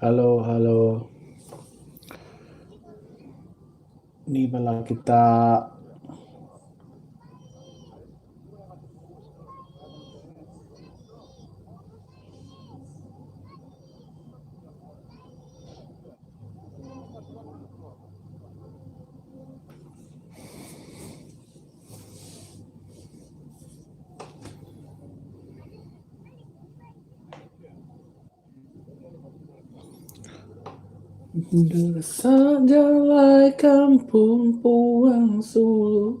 Hello hello. Ni bala kita Desak jalai kampung puang sulu.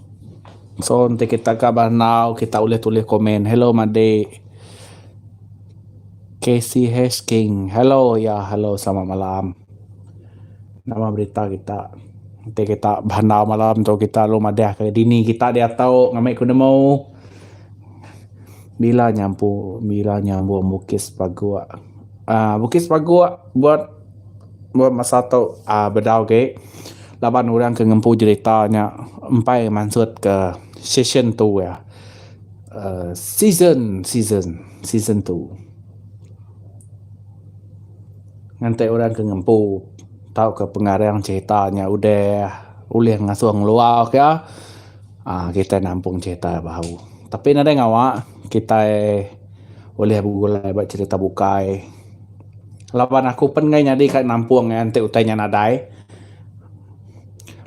So enti kita ga ba enau kita ulih tulis komen hello madik KCH king hello ya hello selamat malam nama berita kita enti kita ba enau malam tu kita lalu madah ka dini kita diatu ngambi ku nemu bila nyampu bila nyambung bukis paguh aaa bukis paguh buat. Meh masa tu uhh bedau agi laban orang ke ngempu jerita nya empai mansut ke session tu iya uhh season season season tu ngante orang ke ngempu tau ke pengarang jerita nya udah ulih ngasuh ngelua ka uhh kitai nampung jerita baru tapi nadai ngawa kitai ulih begulai ba jerita bukai. Laban aku pen enggai nyadi ka nampung iya enti utai nya nadai.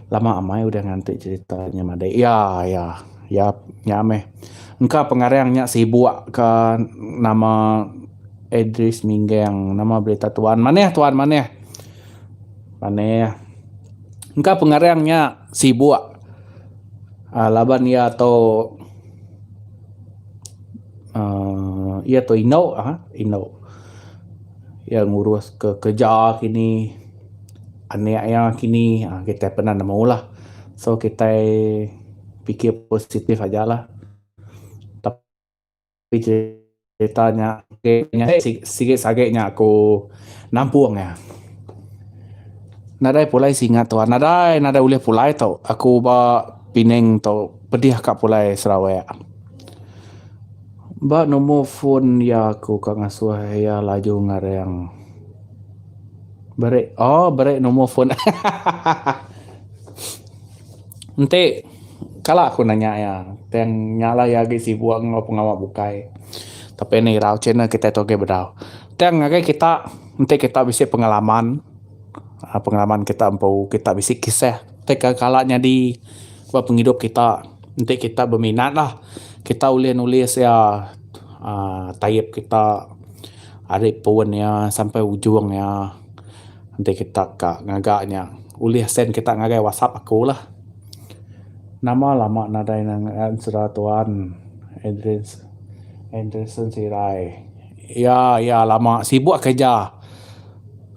Lama amai udah nganti cerita nya madei. Iya iya iya nya meh. Engka pengarang nya sibuk ka nama Edris Minggang. Nama berita tuan manah tuan manah. Manah. Engka pengarang nya sibuk aaa laban iya tu. uhh iya tu indu ha indu iya ngurus ke kerja kini anak iya kini uhh kitai pernah nemu lah so kitai fikir positif aja lah tapi cerita nya sigi sagi nya aku nampung iya nadai pulai singa tu nadai nadai ulih pulai tu aku ba Penang tu pedih ka pulai Sarawak. Ba numur fon iya aku ka ngasuh iya laju ngareng. Bere oh bere numur fon hahaha. Enti kala aku nanya iya tang nya lah iya agi sibuk enggau pengawa bukai. Tapi ne irau ceh ne kitai tu agi bedau. Tang ngagai kita enti kita bisi pengalaman uhh pengalaman kita empu kita bisi kisah ti kala nyadi ba pengidup kita. Enti kita beminat lah kita ulih nulis iya aaa tayap kita ari pun iya sampai ujung iya enti kita ka ngaga iya ulih send kita ngagai whatsapp aku lah nama lama nadai ne ngean sera tuan Adrian Adrianson Serai iya iya lama sibuk kerja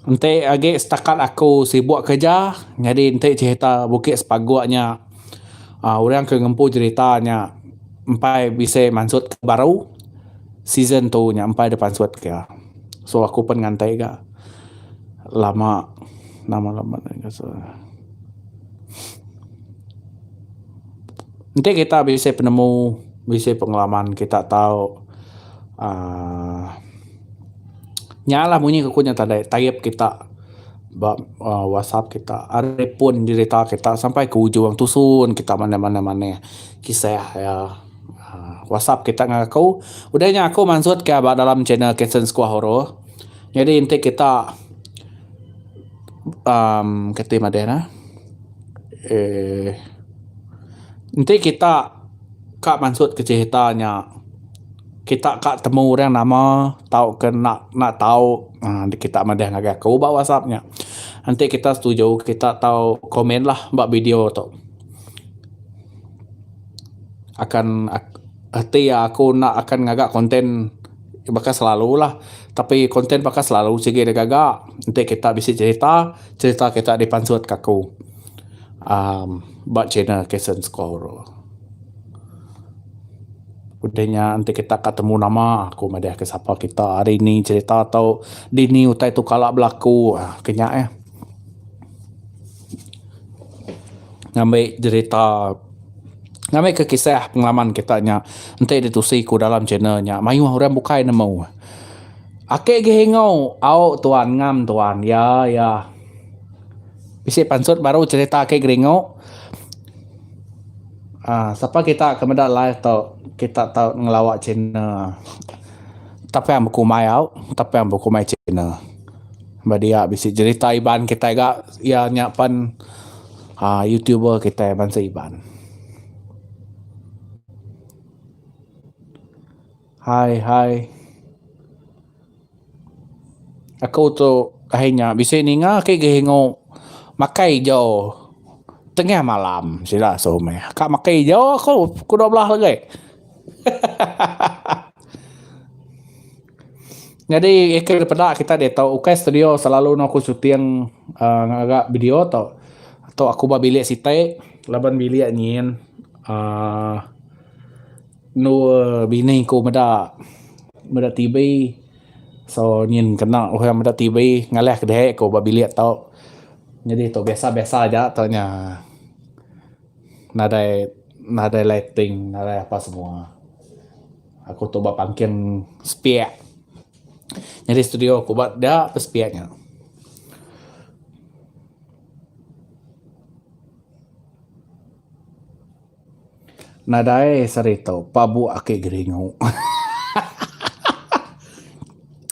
enti agi setakat aku sibuk kerja nyadi enti cerita Bukit Sepagok nya. Orang ke ngempu cerita nya empai bisi mansut ke baru season tu nya empai dep pansut ke so aku pan ngantai ga lama lama lama enti kita bisi penemu bisi pengalaman kita tau uhh nya lah munyi ku nya tadi tayap kita. Ba WhatsApp kita ari pun dirita kita sampai ke ujung tusun kita manah manah kisah iya. WhatsApp kita ngagai aku udah nya aku mansut ka ba dalam channel Kansens Kuah Oroh nyadi enti kita uhh kati madahnya uhh enti kita. Ka mansut ke cerita nya kita ka temu orang nama tauka enda enda tau aaa enti kita madah ngagai aku ba whatsapp nya enti kita setuju kita tau komentlah ba video tu akan reti aku enda akan ngaga konten baka selalulah tapi konten baka selalu sigi digaga enti kita bisi cerita, cerita kita dipansut ke aku. uhh ba channel Kasen Score tu. Udah nya enti kita ka temu nama aku madahka sapa kita hari ini cerita to dini utai to kala belaku uhh ke nya eh. Ngambi jerita ngambi ke kisah pengaman kita nya enti ditusi ku dalam channel nya mayuh orang bukai nemu. Ake gih ingu au tuan ngam tuan ya ya. Bisi pansut baru cerita ake geringu um sapa kita ke meda live tu kita tau ngelawa china tapang bekumai au tapang bekumai china ba dia bisi jerita iban kitai ga iya nya pen um youtuber kitai bansa iban. Hai hai. Aku tu hari nya bisi ninga ke geringu makai ijau tengah malam sila suruh meh. Ka makai ijau aku pukul dua belas legai. Nyadi ke peda kita ditu ukai studio selalu eno aku shooting uhh ngaga video tu. Tu aku ba bilik siti laban bilik nyin uhh Endur bini ku meda meda TV so nyin kena orang meda TV ngalahka deh ku ba bilik tu. Nyadi tu biasa biasa aja tu nya nadai nadai lighting nadai apa semua. Aku tu ba pangking sepiak nyadi studio ku ba da pun sepiak nya. Nadai seri tu pabu aki geringu.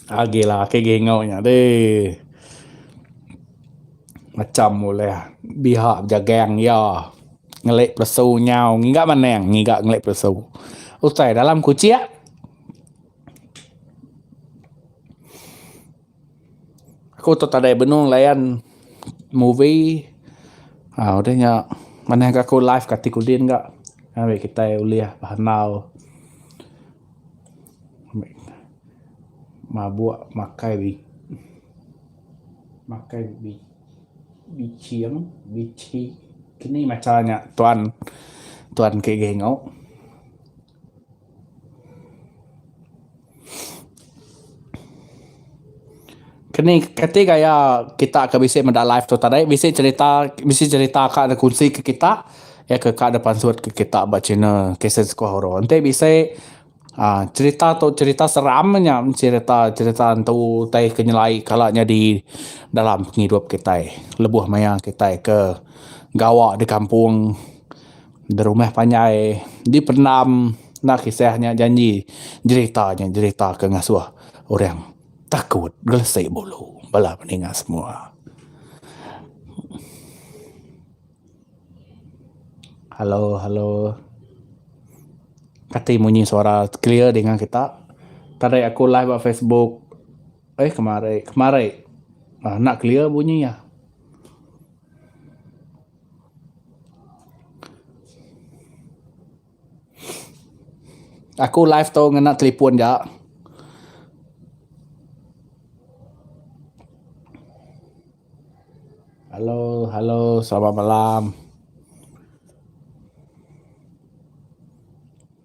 Agila aki geringu nya deh. Macam ulih biha bejagang iya ngeli pelesu nyau ngiga maneng ngiga ngeli pelesu. Utai dalam kuchik. Aku tok tadai benung layan movie uhh deh nya manah ga ku live kati kudin ga ngagai kitai ulih behandal mabuk makai makai biching bichi kini macha nya tuan tuan ke gei enggau. Keni kati gaya kita ke bisi meda live tu tadi bisi cerita bisi cerita ka ne kunsi ke kita iya ke ka ne pansut ke kita ba channel kaset skuh oro enti bisi aaa cerita tu cerita seram nya cerita cerita entu tai ke nyelai kala nyadi dalam pengidup kitai lebuh maya kitai ke gawa di kampung. Berumah panjai dipendam enda kisah nya janji jerita nya jerita ke ngasuh orang takut gelesi bulu bala peninga semua. Hello hello kati munyi suara clear dinga kita tadi aku live ba Facebook eh kemari kemari enda clear bunyi iya. Aku live tu ngena telefon ga. Hello hello selamat malam.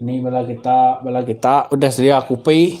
Ni bala kita bala kita udah sedia kopi.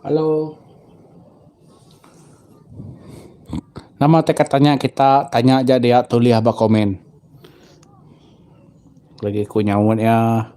Hello. Nama ti ka tanya kita tanya aja dia tulis ba komen. Aku lagi ku nyaut iya.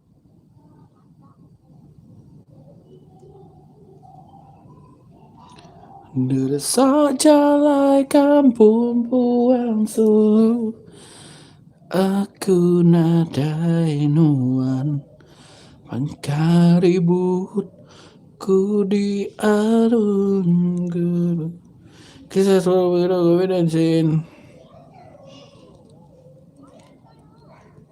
Neresa jalai kampung puang sulu Aku nadai nuan Bangka ribut ku di arun gulu Kisah Seorang Pengedah Covid-19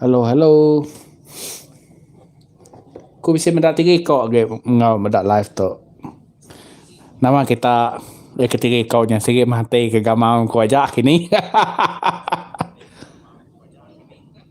Hello hello. Ku bisi meda tiri ko agi enggau meda live tu. Nama kita agi ke tiri ko nya sigi mati ke gamau ku aja kini.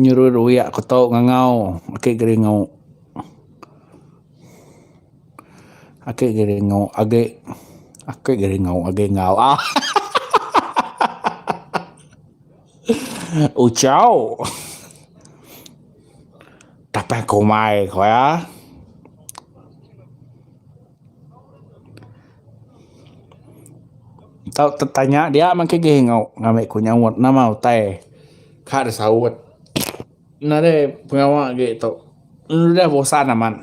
Nyerut ruyak ku tau ngangau ake geringu. Ake geringu age ake geringu age enggau ahahaha ucau tapeh kumai ku iya. Tau tetanya dia mah engke agei enggau ngambi ku nyaut nama utai ka disaut. Ina dei pengawa agi tu. Udah bosan amat.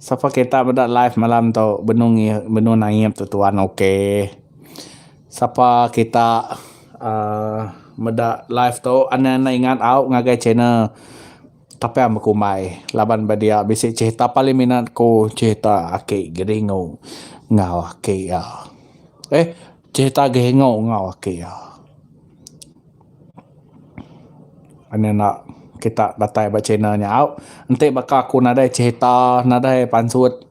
Sapa kita meda live malam tu benung iya benung naip tu tuan ok. Sapa kita aaa meda live tu enda enda ingat au ngagai channel Tapian Bekumbai laban ba dia bisi cerita paling minat ku cerita aki Geringu enggau aki aaa eh Ceh tagih enggau enggau aki iya. Kan enda kita datai ba channel nya au enti baka aku nadai cherita nadai pansut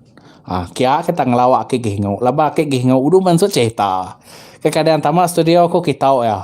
aaa kia ake tau ngelawa ake gih enggau laban ake gih enggau dulu pansut cherita. Ke kadang tama studio aku ke tau iya.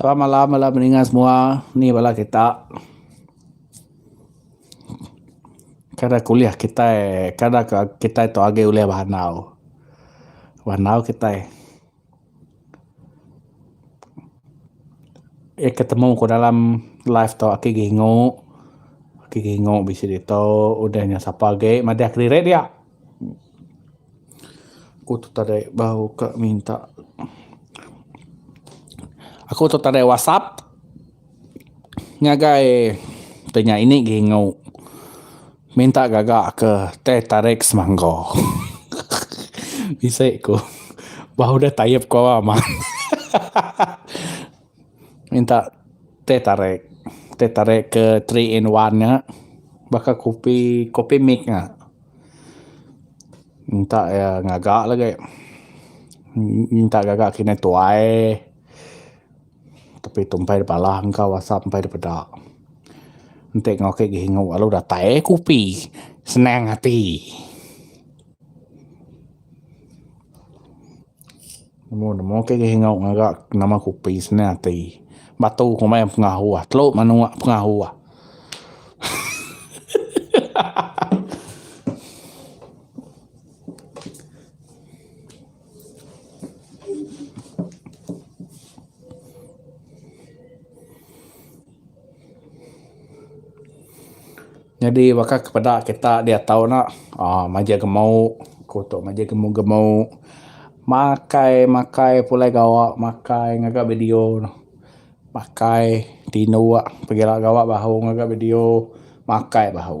Selamat malam bala peninga semua. Ni bala kita kada kuliah kitai, kada kitai tu agi ulih behandau. Behandau kitai. Iya ke temu ku dalam life tu ake gingu, ake gingu bisi ditu udah nyau sapa age madah kediri dia. Aku tu tadi bau ke minta aku tu tadi whatsapp ngagai tu nya ini gingu. Minta gaga ke teh tarik semangga. Bisi ku bah udah tayup ku awa amat. Minta teh tarik. Teh tarik ke three in one nya. Baka kopi, kopi mix nya. Minta iya ngaga lagi. Minta gaga kinih tuai. Tapi tu empai da bala engka whatsapp empai da peda. Enti enggau ke gihingu lalu datai eh kopi senang ati. Nemu nemu ke gihingu ngaga nama kopi senang ati. Batu komai meh pengahuh telu menua pengahuh. Nyadi baka ke peda kita diatu ne aaa majak gemu ku tu majak gemu gemu makai makai pulai gawa makai ngaga video makai tinduk pagila gawa bahu ngaga video makai bahu.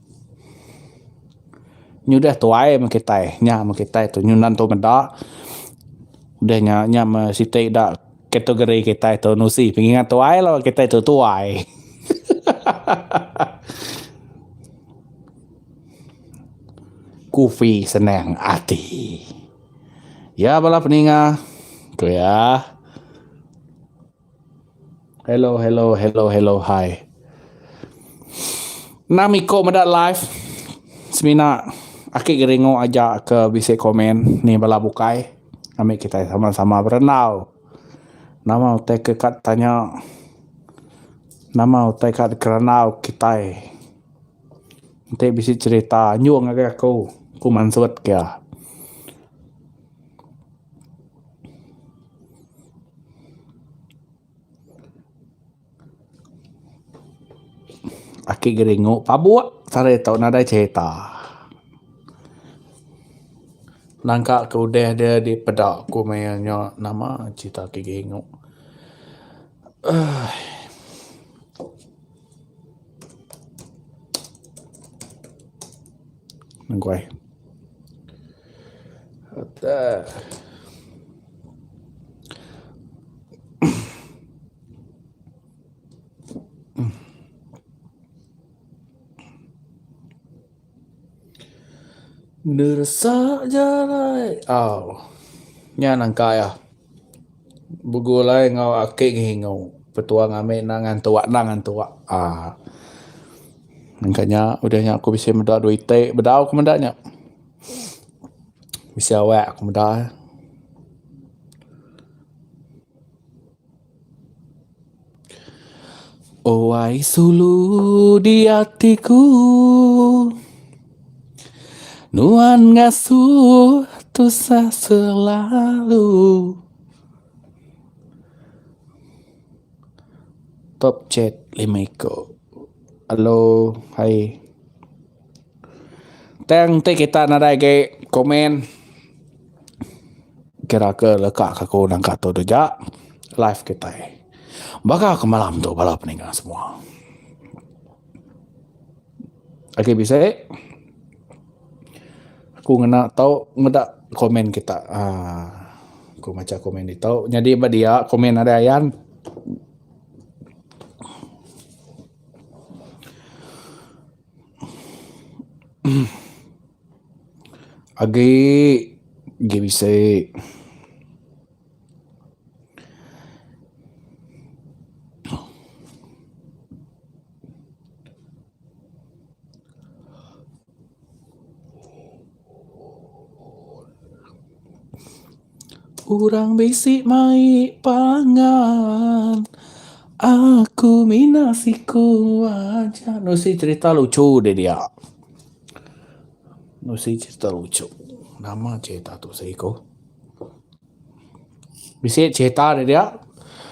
Nyudah tuai meh kitai nya meh kitai tu nyudah nentu meda udah nya nya meh siti da category kitai tu nusi pengingat tuai lalu kitai tu tuai hahaha. Kufi senang ati iya bala peningah ku iya. Hello hello hello hello hai. Enam iko meda live semina aki geringo aja ke bisi komen ni bala bukai ami kitai sama-sama berandau. Nama utai ke ka tanya nama utai ka dikerandau kitai enti bisi cerita nyung agai aku ku mansut kia. Aki geringu pabuk sarih tau nadai cerita. Nangka ke udah de di peda ku maya nya nama cerita aki geringu. Aii. Nengkuai. Atas. Neresa jalai au nya nangka iya begulai enggau aki Geringu petuah ngambek enda ngantu enda ngantu aaa nangka nya udah nya aku bisi meda dua iti bedau ku meda nya bisi awak ku meda. Oai sulu diati ku nuan ngasuh tusah selalu. Top chat lima iko. Hello hai. Tang ti kita nadai agi komen kira ke leka ke aku nangka tu da ja live kitai. Baka ke malam tu bala peningga semua. Agi bisi aku ngena tau meda komen kita aaa aku macha komen ditu nyadi ba dia komen nadai ayan. Agi agi bisi Urang bisi mai pangan. Aku mina siku aja. Enu isi cerita lucu deh dia. Enu isi cerita lucu. Nama cerita tu seh iko. Bisi cerita deh dia.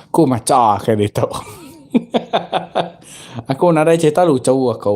Aku macha ke ditu. aku nadai cerita lucu aku.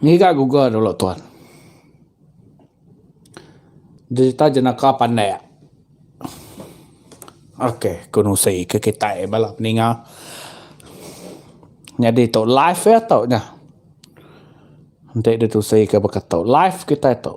Ngiga guga dulu tuan. Jerita jenaka pandak. Ok ku nusi ke kitai bala peninga. Nyadi tu live ya tu nya. Enti ditusi ke baka tu. Live kitai tu.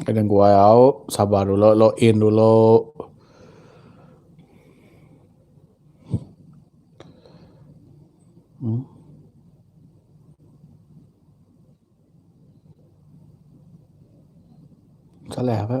Kena guai au sabar dulu log in dulu. Hmm. Salah ke?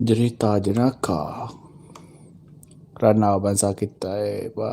Jerita jenaka randau bansa kitai ba.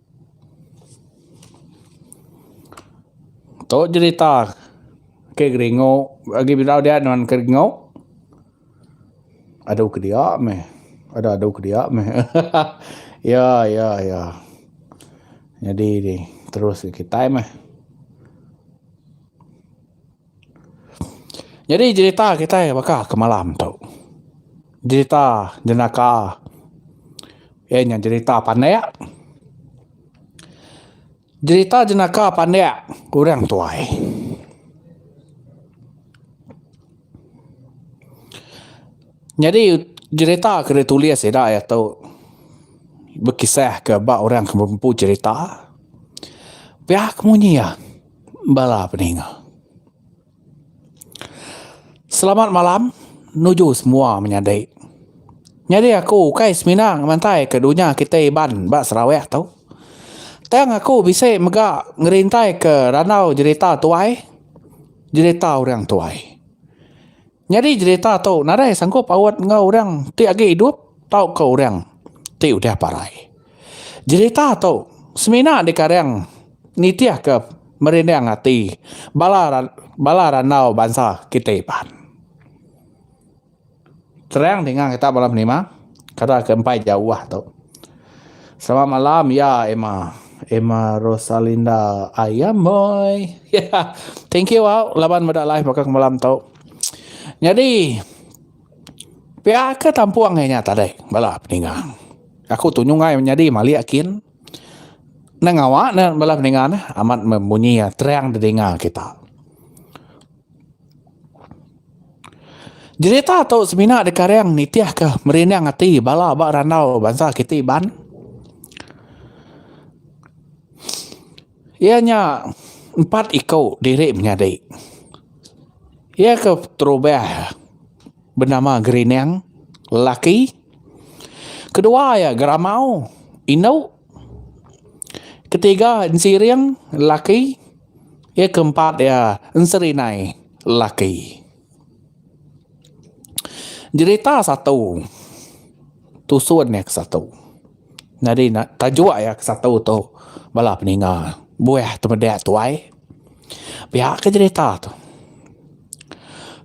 Tu jerita ke geringu agi bidau dia nuan ke geringu adu ke dia meh adu adu ke dia meh hahaha ya ya ya nyadi ni terus kitai meh. Nyadi jerita kitai baka ke malam tu jerita jenaka iya nya jerita pandak jerita jenaka pandak orang tuai nyadi jerita ke ditulis ida aya tu bekisah ke ba orang ke bempu jerita pia kemunyi iya. Bala peninga. Selamat malam nuju semua menyadi. Nyadi aku ukai semina ngemantai ke dunya kitai Iban ba Sarawak tu. Tang aku bisi mega ngerintai ke randau jerita tuai, jerita orang tuai. Nyadi jerita tu nadai sanggup paut enggau orang ti agi idup tauka orang ti udah parai. Jerita tu semina dikarang nitihka merindang ati bala bala randau bansa kitai pan. Terang ninga kita bala penima, Kada ke empai jauh tu. Selamat malam ya Emma. Emma Rosalinda ayam boy. Thank you wow laban meda live baka ke malam tu. Nyadi pia ke tampung ngai nya tadi bala peninga. Aku tu nyu ngai nyadi malik kin ne ngawa ne bala peninga ne amat membunyi terang didinga kita. Jerita tu semina dikaring nitihka merining ati bala ba randau bansa kitai Iban. Iya nya empat iko diri menyadi. Iya ke terubah benama Gerining lelaki. Kedua iya Geramau indu. Ketiga ensiring lelaki iya keempat iya enserinai lelaki jerita satu tusun iya ke satu nyadi tajuk iya ke satu tu bala peninga buah temeda tuai. Pia ke cerita tu.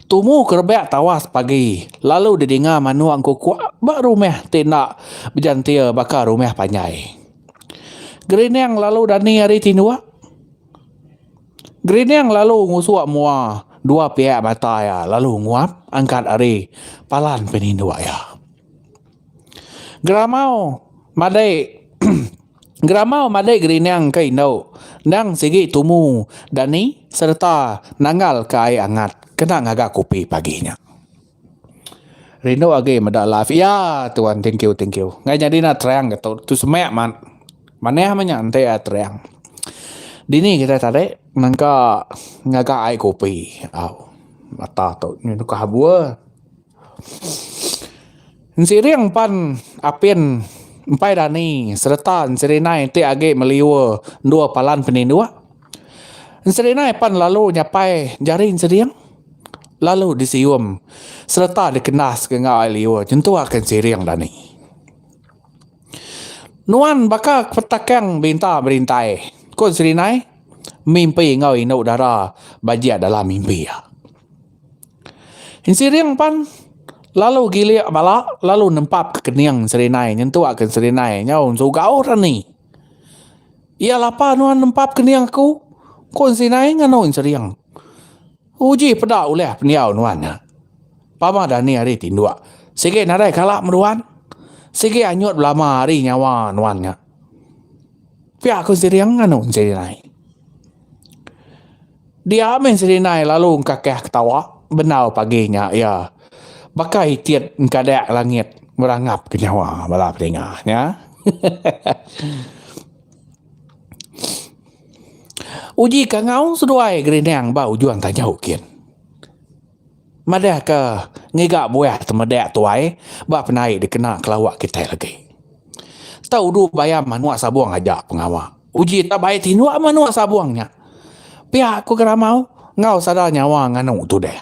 Tumu ke rebak tawas pagi lalu di dinga manok engku kua ba rumah ti enda bejantir baka rumah panjai. Gerining lalu dani ari tinok. Gerining lalu ngusok mua dua piak mata iya lalu nguap angkat ari palan penindok iya. Geramau madai. Gerama malik gerining ke indu endang sigi tumu dani sereta nanggal ke air angat kena ngaga kopi pagi nya. Rindu agi meda live iya tuan thank you thank you ngai nyadi enda terang ke tu tu semak manah meh nya enti iya terang dini kita tadi nangka ngaga air kopi au mata tu nyin tu ke habur. Ensering pan apin empai dani sereta enserinai ti agi meliur endur palan peninduk. Enserinai pan lalu nyapai jari ensering lalu disium sereta dikendas ke enggau ai liur nyentukka ensering dani. Nuan baka kepetakang berinta berintai ku enserinai mimpi enggau indu dara ba jia dalam mimpi iya. Insiring pan lalu gilik bala lalu nempap ke kening serinai nyentuk ke serinai nyau sugau rani iya lapa nuan nempap kening aku ku serinai nganu insiring uji peda ulih pendiau nuan nya pama dani hari tinduk sigi nadai kala meruan sigi anyut belama hari nyawa nuan nya pia ku sering nganu serinai. Dia mih Selinai lalu engkakah ketawa bendar pagi nya iya baka itit engkadak langit ngerangapka nyawa bala pedinga nya. Uji kangau seduai gerinang ba ujung tanjau kin. Madahka ngiga buah temedak tuai ba penai dikena kelawa kitai agi. Tau udu bayam anok sabong aja pengawa. Uji tak baik tindok meh anok sabong nya. Pia ku Geramau enggau sada nyawa nganu tudah.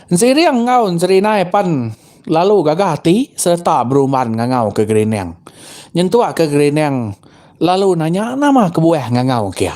Ensiriang enggau enserinai pan lalu gaga ati sereta berumban ngangau ke Gerinang. Nyentuk ke Gerinang lalu nanya nama kebuah ngangau kia.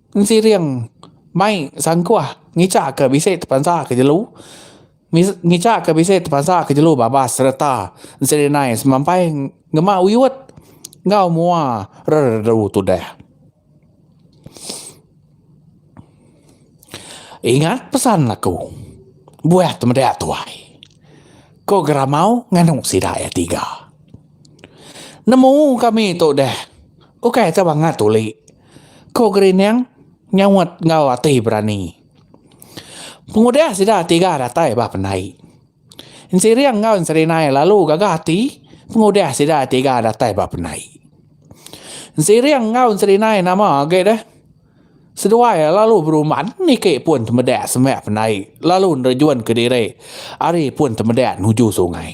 Enti ring mai sangkuh ngica ke bisi tepansa ke jelu ngica ke bisi tepansa ke jelu babas sereta selinai semampai ngema uyut enggau mua reredu tudah. Ingat pesan aku buah temeda tuai ko geramau nganu sida iya tiga. Nemu kami tu deh ukai ke bangat tuli. Ko Gerining nyaut enggau ati berani. Pengudah sida tiga datai ba pendai. Ensiring enggau Enserinai lalu gaga ati pengudah sida tiga datai ba pendai. Ensering enggau Enserinai nama agi deh. Seduai lalu beruman niki pun temedak semak pendai lalu nerejunka diri ari pun temedak nuju sungai.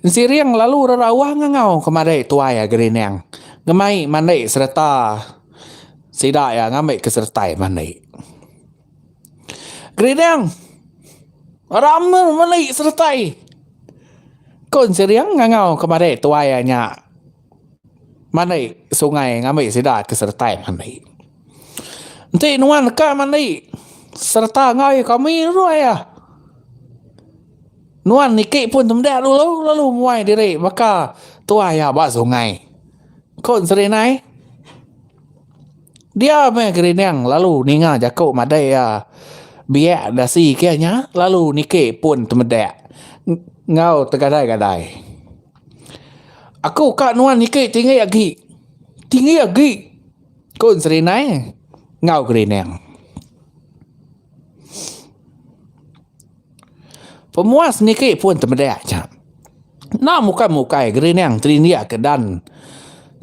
Ensireng lalu rerawa ngangau kemari tuai Agerinang ngemai mandi sereta sida iya ngambi ke seretai mandi. Gerinang rami mandi seretai ko Ensireng ngangau kemari tuai iya nya. mandi sungai ngambi sida ke sereta mandi enti nuan ka mandi sereta angai kami dulu aya nuan niki pun temda dulu lalu muai diri baka tuai iya ba sungai ko serinai dia meh gerining lalu ninga jaku madai iya biak dasi kiye nya lalu niki pun temda enggau tegadai-gadai. Aku ka nuan niki tinggi agi. Tinggi agi ku Serinai enggau Gerining. Pemuas niki pun temeda aja. Enda mukai mukai Gerining tinggi agi dan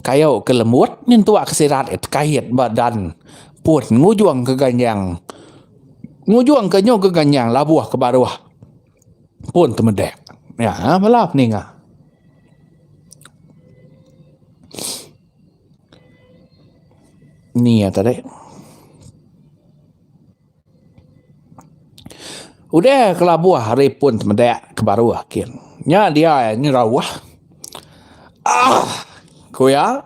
kayu ke lembut nyentuk ke sirat kait ba dan pun ngujung ke ganjang ngujung ke nyu ke ganjang labuh ke baruh. pun temedek nya bala peninga. Ni iya tadi. Udah kelabuh hari pun temedek ke baruh kin. Nya dia iya nyerauh. Aah ku iya.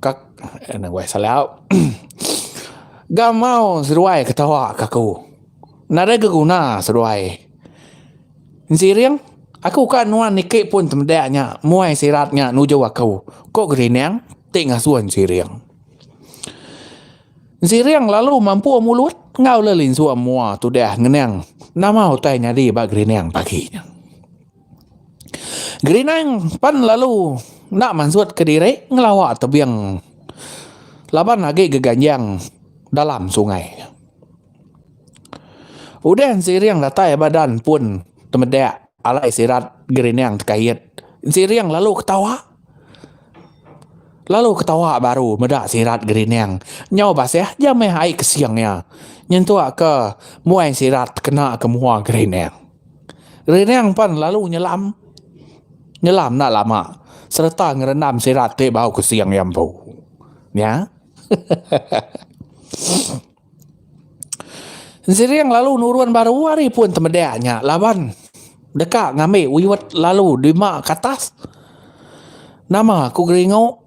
Kak enda weh salau. Gamau seduai ketawa ke aku. Nadai ke guna seduai. Ensireng, aku ka nuan niki pun temedak nya muai sirat nya nuju aku, ko Gerinang ti ngasuh Ensireng. Ensireng lalu mampung mulut enggau le linsung mua tudah ngenang nama utai nyadi ba Gerinang pagi nya. Gerinang pan lalu enda mansut kediri ngelawa tebing laban agi geganjang dalam sungai. Udah siring datai ba dan pun temedak alai sirat Gerinang tekait siring lalu ketawa lalu ketawa baru meda sirat Gerinang nyau basah jamih ai kesing iya nyentukka muai sirat kena ke mua Gerinang. Riring pan lalu nyelam nyelam enda lama sereta ngerendam sirat ti bau ke sing iya empu. Nya. Riring lalu nurun baru ari pun temedek nya laban deka ngambi wiwet lalu dima ke atas. Nama ku geringu.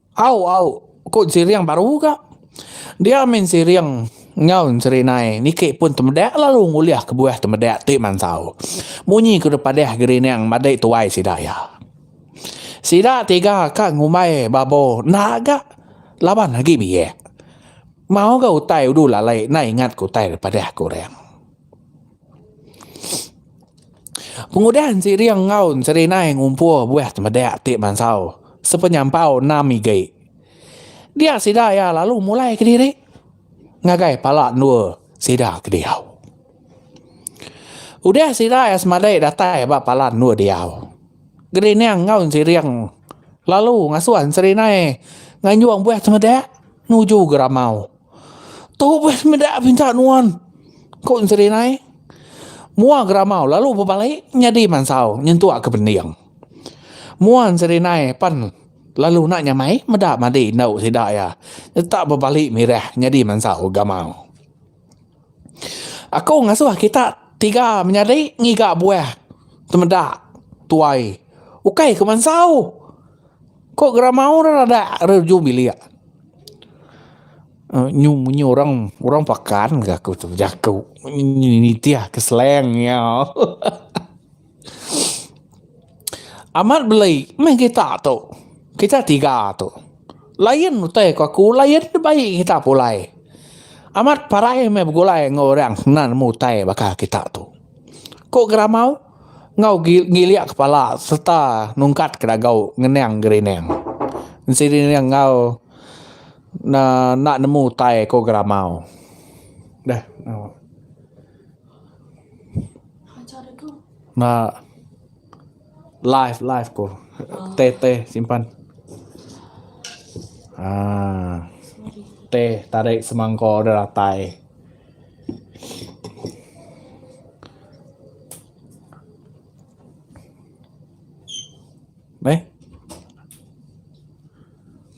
Au au, ku Ensiriang baru ga. Dia mih Ensiriang enggau Enserinai niki pun temedak lalu ngulih kebuah temedak ti mansau. Munyi ke deh padah Gerinang madai tuai sida iya. Sida tiga ka ngumbai Babo enda ga laban agi biak. Mau ga utai udu lalai enda ingat ke utai deh padah ke orang. Pengudah enti ring enggau serinai ngumpul buah temedak ti mansau sepenyampau enam igi. Dia sida iya lalu mulai kediri ngagai pala endur sida ke diau. Udah sida iya semadai datai ba pala endur diau, gerining enggau siring lalu ngasuh serinai nganjung buah temedak nuju geramau. Tu bah semeda pinta nuan, ku Enteri Nai. Mua geramau lalu bebalai nyadi mansau nyentuk ke pending. Mua Enteri Nai pan lalu enda nyamai meda madi indu sida iya tetap bebali mirah nyadi mansau geramau. Aku ngasuh kita tiga menyadi ngiga buah temeda tuai ukai ke mansau. Ko geramaung rak rada rak ujung bilik nyu munyi orang orang pakan ga aku tu bejaku nitih ke slang iya amat belai meh kita tu kita tiga tu lain utai ko aku lain da bai kita pulai amat parai meh begulai enggau orang kena nemu utai baka kita tu ko geramaung. enggau ngilik kepala sereta nungkatka dagau ngenang gerining enseri ne enggau enda nemu utai ko geramau deh ba live live ko teh teh simpan aaa teh tarik semangkau da datai. Meh.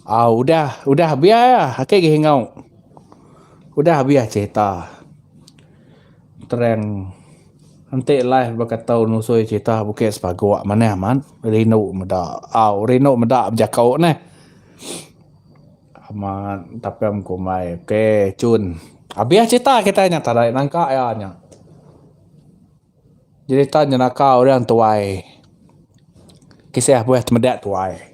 Au udah, udah biar ah ake gi enggau. Udah biar cerita. Terang enti live baka tu nusoi cerita buke sepagok manah amat rindu meda. Au rindu meda bejaku neh. Amat tapem kumbai. Ok cun. Abih cerita kita nya tarai nangka iya nya. Cerita nyenaka orang tuai. Kisah buah temeda tuai.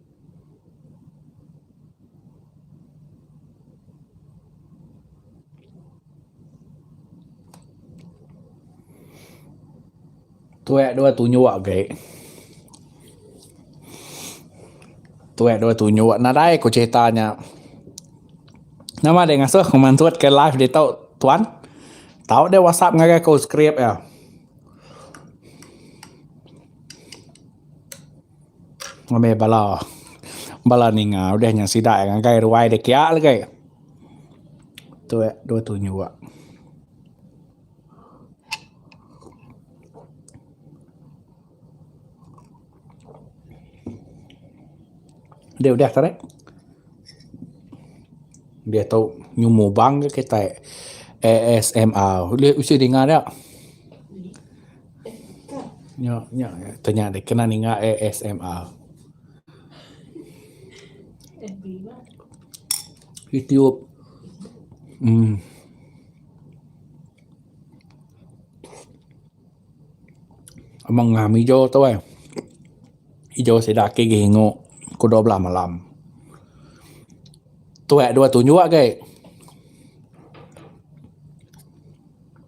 Tuek dua tunjuk agi. Tuek dua tunjuk nadai ku cerita nya. Nama deh ngasuh ku mansut ke live ditu tuan? Tau deh whatsapp ngagai aku script iya. Ngambi bala bala ninga udah nya sida ngagai ruai da kiya lagi. Tu ya dua tunyu ya. Adi udah tadi. Dia tu nyumu bang ke kitai ASMR. Ulih usi dinga dia. Nya nya tanya deh kena ninga ASMR. YouTube. Hmm. Amang ngam ijo tu eh. Ijo sida ake gi ingu ku 12 malam. Tuek dua tunjuk gai.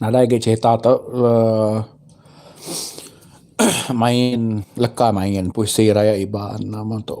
Nadai agei cerita tu uhh main leka main puisi Rayat Iban nama tu.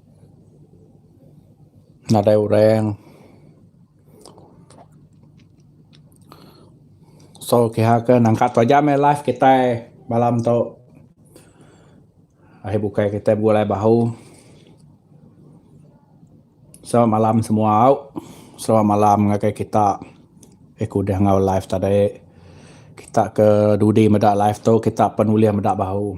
nadai orang so kiha ke nangka taja meh life kitai malam tu ahi bukai kitai begulai bahu selamat malam semua au selamat malam ngagai kita ke kudih enggau life tadi kita ke dudi meda life tu kita pan ulih meda bahu.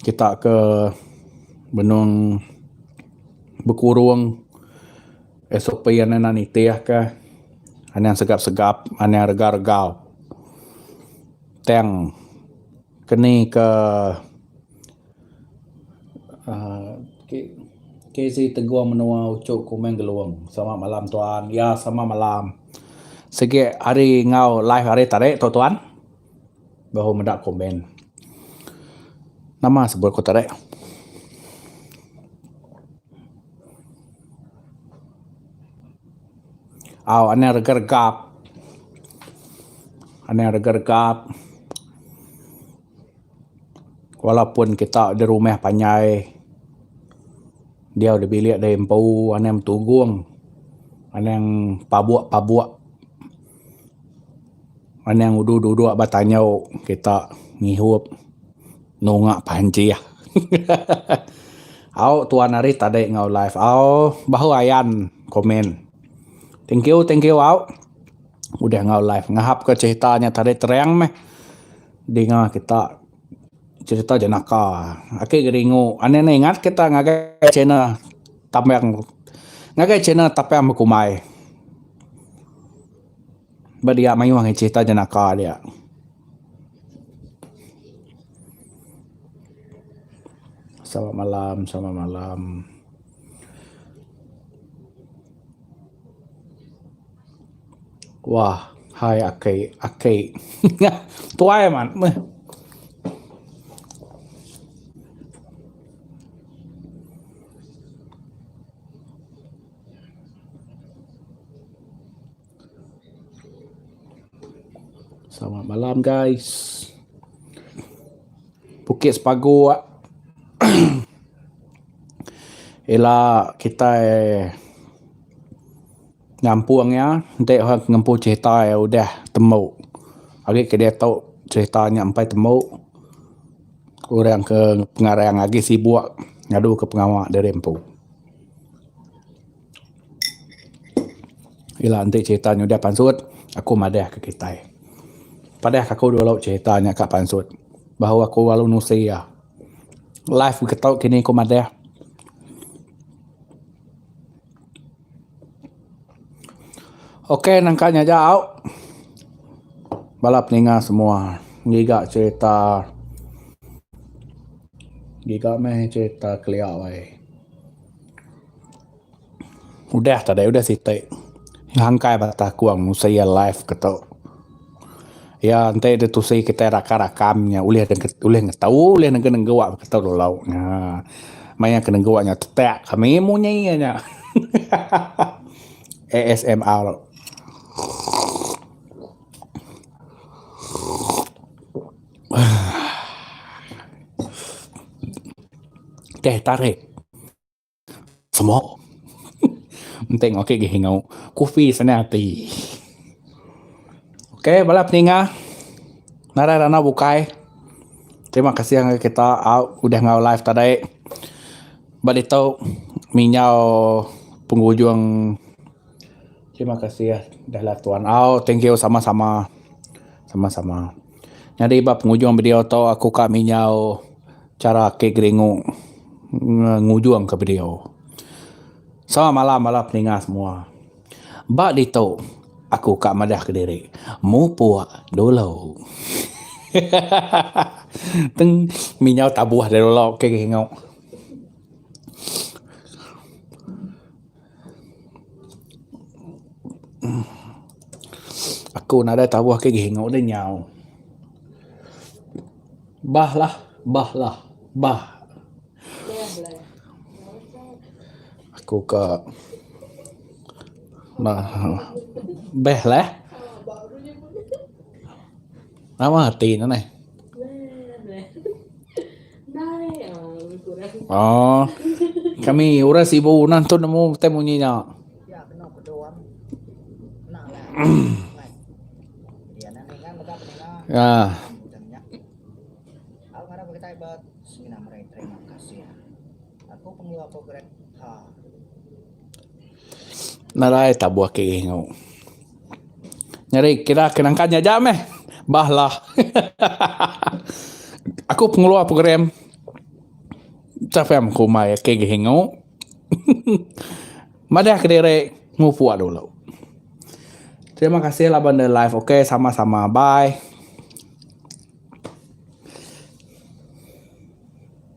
Kita ke benung bekurung SOP anak anak nitih ke anang segap segap anang rega rega tang keni ke KZ Teguh Menua Uchu Kumang Gelung. Selamat malam tuan. Ya selamat malam. Sigi hari enggau live hari tadi tu tuan. Baru meda komen. Nama sebut aku tadi. Au Anang Rega Regap. Anang Rega Regap. Walaupun kita di rumah panjai diau di bilik da empu anang betugung anang pabok pabok anang duduk duduk ba tanjau kita ngihup nunga panjih. Au tuan ari tadi enggau live au bahu ayan komen. Thank you thank you au udah enggau live ngahap ka cerita nya tadi terang meh. Dinga kita cerita jenaka ake geringu ane ane ingat kita ngagai channel tambang ngagai channel tapang bekumbai ba dia mayuh angai cerita jenaka dia. Selamat malam selamat malam. Wah hai aki aki ngah tuai man meh. Selamat malam guys. Bukit sepagu ah. Ila kitai Nyampung iya, enti orang ke ngempu cerita iya udah tembu agi ke diatu cerita nya empai tembu orang ke pengarang agi sibuk ngadu ke pengawa diri empu. Ila enti cerita nya udah pansut aku madah ke kitai. Padah ke aku dulu cerita nya ka pansut baru aku lalu nusi iya. Live getu kini ku madah. Ok nangka nya jau bala peninga semua ngiga cerita ngiga meh cerita kelia wai udah tadai udah siti ngangkai bala takong mesti iya live ketu. Iya enti deh tusi kitai raka rakam nya ulih deh ulih ngetu ulih nengke nenggu ap keto lalau nya. Maya ke nenggu nya tetak kami munyi iya nya. ASMR. Teh tarik. Semua. Enteng okey gih ngau kufi senang ati. Okey bala peninga narai randau bukai. Terima kasih ngagai kita udah ngau live tadi. Ba ditu ami nyau pengujung terima kasih udah live tuan au. Thank you sama sama. Sama sama. Nyadi ba pengujung video tu aku ka mi nyau. Chara ake geringu ngujung ke video. Selamat malam bala peninga semua. Ba ditu aku ka madah kediri mupuk dulu. Teng minyau tabuh dulu ke geringu. Aku nadai tabuh agi ke enggau deh nyau. Bah lah, bah lah, bah. Aku ka beh leh. Nama reti ne neh. Oh. Kami orang sibu nah tu nemu betai munyi nya. Ya. Aku pengeluar program ha. Nadai tabuh ke ringu. Nyeri kira ke nangkan nya aja meh. Bah lah. Aku pengeluar program Chafem kumai ake gi ringu. Madah kediri mupuk dulu. Terima kasih laban da live. Okey sama-sama. Bye.